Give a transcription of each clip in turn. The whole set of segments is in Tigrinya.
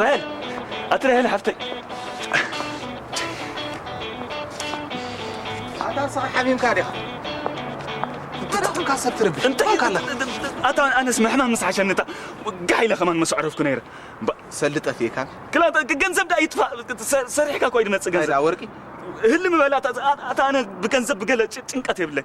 ራሄል ኣቲ ራሄል ሓፍተይ ኣታ ንስኻ ሓሚምካ ዲኻ እንታይ ደኹምካ ሰብ ትረብሽ እንታይ ኢልካ ኣለኻ ኣታ ኣነስ ምሕማም ምስ ሓሸኒ እታ ጋሕ ኢለ ከማን መሰዕረፍኩ ነይረ ሰሊ ጠፊእካ ክላ ገንዘብ ዳ ይጥፋእ ሰሪሕካ እኳ ይድመፅእ ገንዘብ ወርቂ ህሊ ምበላ ኣታ ኣነ ብገንዘብ ብገለ ጭንቀት የብለይ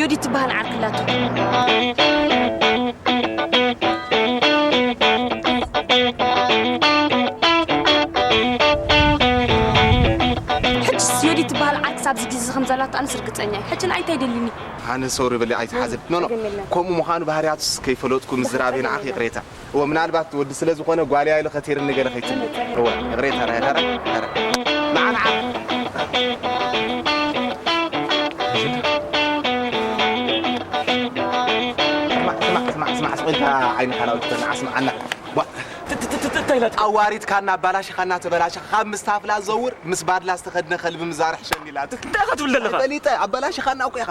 ዮዲ ትበሃል ዓርኪ ኣላቶ ሕጅስ ዮዲ ትበሃል ዓርኪ ክሳብ እዚ ግዜ እዚ ከም ዘላቶ ኣነስ ርግጸኛ እየ ሕጂ ንዓይ እንታይ ደሊኒ ሃኒ ሶሪ በሊ ኣይትሓዝኒ ኖኖ ከምኡ ምዃኑ ባህርያቱስ ከይፈለጥኩ ምዝራበይ ንዓኺ ይቕሬታ። እወ ምናልባት ወዲ ስለ ዝኾነ ጓልያ ኢሉ ከቲርኒ ገለ ከይትብሉ። እወ ይቕሬታ ራሄል ኧረ ኧረ መዓ ንዓ ስማዕ ስማዕ ስማዕ ስማዕ ስቕ ኢልካ ዓይንኻ ናውቲ በል ንዓ ስምዓና ቧ እንታይ ኢላትካ ኣዋሪድካና ኣባላሽኻና ተበላሽኻ ካብ ምስ ታፍላ ዘውር ምስ ባድላ ዝተኸድነ ከልቢ ምዛርሕ ሸኒላትክ እንታይ ኢኻ ትብል ዘለኻ ፈሊጠ ኣባላሽኻና እኮ ኢኻ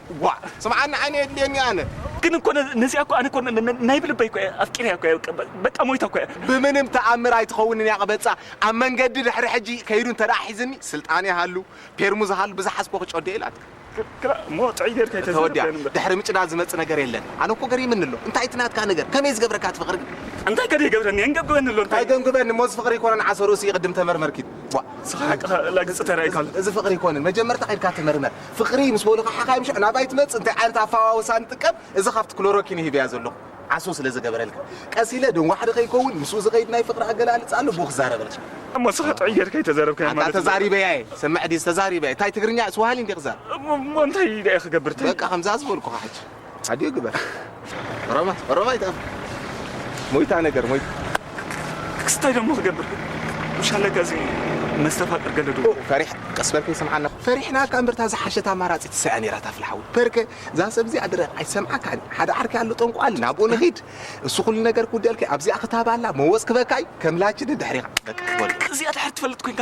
ዋእ ስምዓኒ ዓይኒ የድልየኒ ኣነ። ግን እኮ ነዚኣ እኮ ኣነ እኮ ናይ ብልበይ እኮ እየ ኣፍቂረያ እኮ እየ በቃ ሞይታ እኮ እያ። ብምንም ተኣምር ኣይትኸውንን እያ ቅበጻ ኣብ መንገዲ ድሕሪ ሕጂ ከይዱ እንተ ሒዝኒ ስልጣን ይሃሉ ፔርሙዝ ይሃሉ ብዝሓዝኮ ክጨዶ እየ ኢላትካ። ክላ እሞ ጥዕይ ጌርካ ኣይተዛረብ ተወዲኣ ዳይንበር። ድሕሪ ምጭዳድ ዝመጽእ ነገር የለን። ኣነ እኮ ገሪምኒ ኣሎ እንታይ እቲ ናትካ ነገር ከመይ ዝገብረካ እቲ ፍቅሪ ግን እንታይ ከ ደይገብረኒ የንገብግበኒ ኣሎ እንታይ እንታይ ገንግበኒ እሞ እዚ ፍቅሪ ኣይኮነን ዓሶ ርእሲ ቅድም ተመርመር ኪድ ዋእ ንስኻ ሓቅኻ ላግጺ ተራእይካ ኣሎ። እዚ ፍቅሪ ኣይኮነን መጀመርታ ከይድካ ተመርመር። ፍቅሪ ምስ በሉካ ሓካይም ሽዑ ናባይ ትመጽእ እንታይ ዓይነት ኣፋዋውሳ ንጥቀም እዚ ካብቲ ክሎሮኪን እዩ ሂበያ ዘለኩ ዓሶ ስለ ዝገበረልካ ቀስ ኢለ ደንጓሕዲ ከይከውን ምስኡ ዝከይድ ናይ ፍቅሪ ኣገላልጻ ኣሎ ብኡ ክዛረበልካ እሞ እስኻ ጥዑይ ጌርካ ኣይተዛረብካዮን ኣንታ ማለት እዩ። ተዛሪበያ እየ ሰምዕ ድየ ተዛሪበያ ታይ ትግርኛ ስዋሃሊ እንድየ ክዛረብ እሞ እንታይ ደኣ ክገብር ታይ በቃ ከምዛ ዝበልኩኻ ሕጂ ኣድዮ ግበር ሮማ ሮማ ይጣም ሞይታ ነገር ሞይታ ክስታይ ደሞ ክገብር ምሻለ ከዚ መስተፋቅር ገለዱ ፈሪሕ ቀስ በል ከይሰምዓና ፈሪሕና እካ እምበርታ ዝሓሸት ኣማራፂ ትሰያ ነይራ ታፍልሓዊ ፐርከ እዛ ሰብ እዚኣ ድረ ኣይሰምዓካን ሓደ ዓርኪ ኣሎ ጠንቋል ናብኡ ንኺድ እሱ ኩሉ ነገር ክውደልኪ ኣብዚኣ ክታባላ መወፅ ክበካይ ከምላችን ድሕሪኻ በቃ እዚኣ ድሕር ትፈልጥ ኮንካ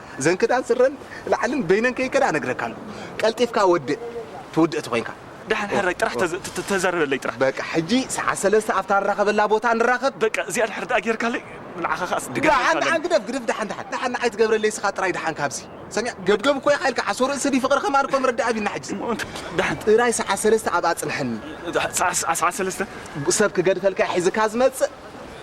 እዘን ክዳን ስረን ላዕልን በይነን ከይከዳ እነግረካ ኣለኩ ቀልጢፍካ ወድእ ትውድእ ተኮይንካ ደሓን ሕራይ ጥራሕ ተዘ- ተዛረበለይ ጥራሕ በቃ ሕጂ ሰዓት ሰለስተ ኣብታ ንራኸበላ ቦታ ንራኸብ በቃ እዚኣ ድሕር ደኣ ጌርካለይ ንዓኻ ከኣ ስዲ ገርካ ደሓን ደሓን ኣለኒ ግደፍ ግደፍ ደሓን ደሓን ደሓን ንዓይ ትገብረለይ ስኻ ጥራይ ደሓን ካብዚ ሰሚዕ ገብገብ እኮ ኢኻ ኢልካ ዓሶ ርእሲ ድዩ ፍቕሪ ከማን እኮ ምርዳእ ኣቢልና ሕጂ እሞ እንተ- ደሓን ጥራይ ሰዓት ሰለስተ ኣብኣ ጽንሐኒ ሰዓ- ሰዓ- ሰዓት ሰለስተ ብ- ሰብ ክገድፈልካ እዩ ሒዝካ ዝመጽእ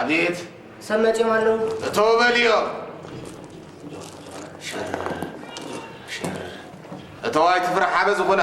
አቤት ሰብ መቼም አለው እቶ በልዮ እቶ ኣይትፍራሕ ሓበ ዝኾና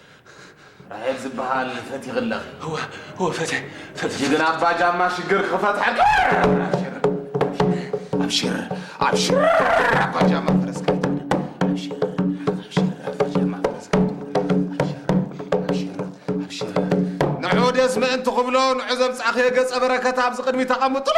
ራሄል ዝበሃል ፈቲኺ ኣለኺ። እወ እወ ፈተ ፈተ ጅግና ኣባ ጃማ ሽግር ክፈትሐልካ ኣብሽር ኣብሽር ኣባ ጃማ ፈረስካ ንዑ ደስ ምእንቲ ክብሎ ንዑ ዘምፃእኸዮ ገፀ በረከት ኣብዚ ቅድሚ ተቐምጥሉ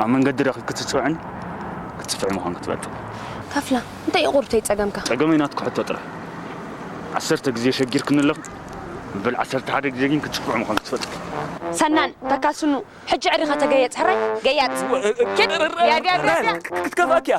ኣብ መንገዲ ረኺብኪ ትጽፍዕን ክትጽፍዒ ምዃንኪ ትፈልጥ። ተፍላ እንታይ እዩ ቁርብተይ ጸገምካ? ጸገመይ ናትኪ ሕቶ ጥራይ ዓሰርተ ግዜ ሸጊርክኒ ኣለኺ መበል ዓሰርተ ሓደ ግዜ ግን ክትጽፍዒ ምዃንኪ ትፈልጥ። ሰናን ተካል ስኑ ሕጂ ዕሪኻ ተገየጽ ሕራይ ገያጽ ኪድ ቢያቢያቢያቢያ። ክትከፍኣኪ እያ።